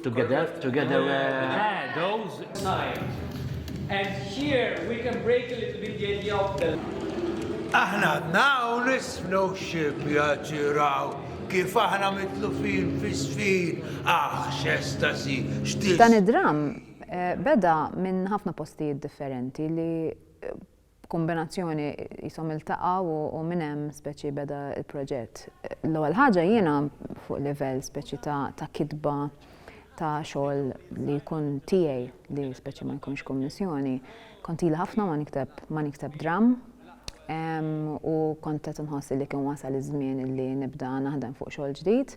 Together, together, uh, those signs. And here we can break a little bit the idea of the... Aħna għadna u nisfnu xib jaġiraw kif aħna mitlufin fi sfin, aħ, xestasi, xtis. Dan id-dram eh, beda minn ħafna postijiet differenti li eh, b'kumbinazzjoni qishom iltaqgħu u minn hemm speċi beda l-proġett. L-ewwel ħaġa jiena fuq livell speċi ta', ta kitba ta' xogħol li jkun tiegħi li speċi ma jkunx kummissjoni. Kont ili ħafna ma nikteb ma nikteb dramm u kont qed inħoss li kien wasal iż-żmien li nibda naħdem fuq xogħol ġdid.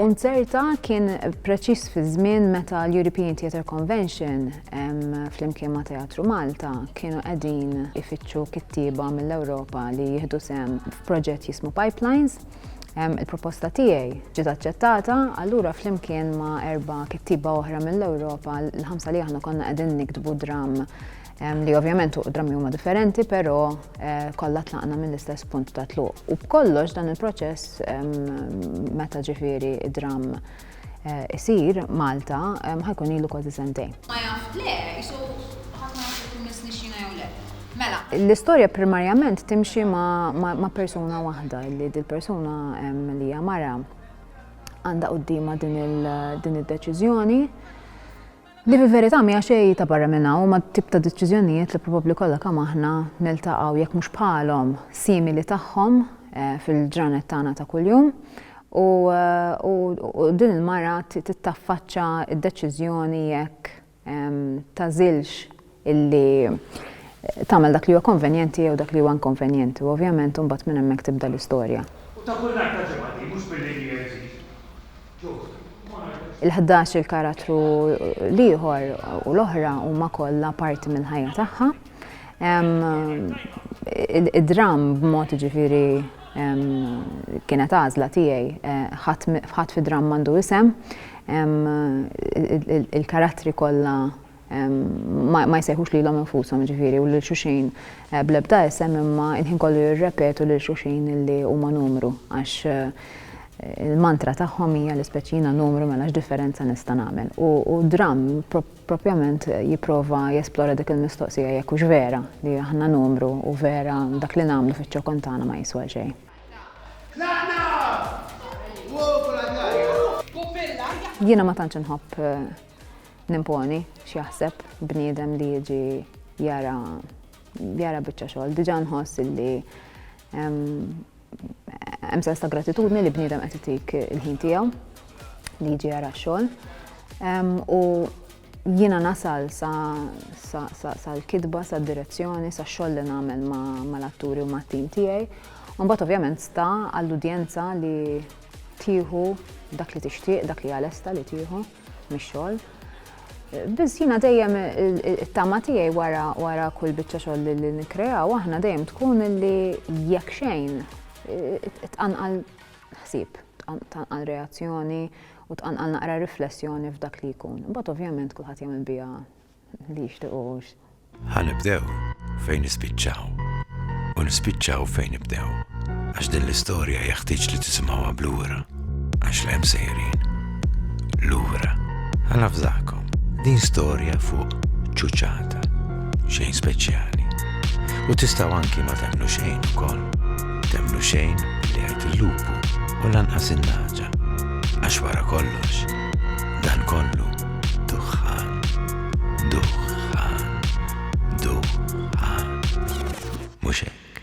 Unzerta kien preċiż fiż-żmien meta l-European Theatre Convention, ehm, flimkien ma' Teatru Malta, kienu qegħdin ifittxu kittieba mill-Ewropa li jieħdu sehem f'proġett jismu Pipelines. Ehm, il-proposta tiegħi ġiet aċċettata, allura flimkien ma' erba' kittieba oħra mill-Ewropa, l-ħamsa li aħna konna qegħdin niktbu dramm li ovvjament fuq drammi huma differenti, però eh, kollha tlaqna mill-istess punt ta' tluq. U b'kollox dan il-proċess meta ġifieri id-dramm eh, isir Malta ħajkun ilu kważi sentejn. Ma jaf le, jisu ħafna jkun nisnixxina jew le. Mela. L-istorja primarjament timxi ma' persuna waħda, li dil-persuna li hija mara għandha qudiema din id-deċiżjoni. Li fil-verità mija xejn ta' barra minn hawn ma' tip ta' deċiżjonijiet li probabbli kollha kemm aħna niltaqgħu jekk mhux bħalhom, simili tagħhom fil-ġranet tagħna ta' kuljum. U, u, u din il-mara tittaffaċċa d-deċiżjoni jekk tagħżilx illi tagħmel dak li huwa konvenjenti jew dak li huwa inkonvenjenti u ovvjament imbagħad minn hemmhekk tibda l-istorja. U ta' kull nhar ta' ġimgħa din, mhux billi hija iżid. Ġust. Il-ħdax il-karattru l-ieħor u l-oħra huma kollha parti mill-ħajja tagħha. Id-dramm b'mod ġifieri kienet għażla tiegħi eh, ħadd fi dramm għandu isem il-karattri kollha ma jsejħux lilhom infushom jiġifieri u lil xulxin bl-ebda isem imma l-ħin kollu jirrepetu lil xulxin li huma numru għax il-mantra tagħhom hija li speċi jiena numru mela x'differenza nista' nagħmel. U, u dram propjament jipprova jesplora dik il-mistoqsija jekk hux vera li aħna numru u vera dak li nagħmlu fiċ-ċokon tagħna ma jiswa xejn. Jiena ma tantx inħobb eh, Nimponi x'jaħseb bniedem li jiġi jara jara biċċa xogħol. Diġà nħoss illi hemm sens ta' gratitudni li bniedem qed itik il-ħin tiegħu li jiġi jara xogħol. U jiena nasal sa l-kitba, sa direzzjoni, sa xogħol li nagħmel ma l-atturi u ma tim tiegħi. Mbagħad ovvjament sta għall-udjenza li tieħu dak li tixtieq, dak li għalesta li tieħu. mix-xogħol. Biss jiena dejjem it-tama tiegħi wara wara kull biċċa xogħol li nikkreaw aħna dejjem tkun li jekk xejn tqanqal ħsieb, tqanqal reazzjoni u tqanqal naqra riflessjoni f'dak li jkun. Imbagħad ovvjament kulħadd jagħmel biha li jixtiqux. Ħa nibdew fejn nispiċċaw u nispiċċaw fejn nibdew għax din l-istorja jeħtieġ li tisimgħuha blura għax l hemm sejrin. Lura, ħa nafżakom din storja fuq ċuċata xejn speċjali. U tistaw anki ma temlu xejn ukoll. Temlu xejn li għajt il-lupu u lanqas il-naġa. Għax wara kollox, dan kollu Duħħan. Duħħan. Duħħan. Mhux hekk.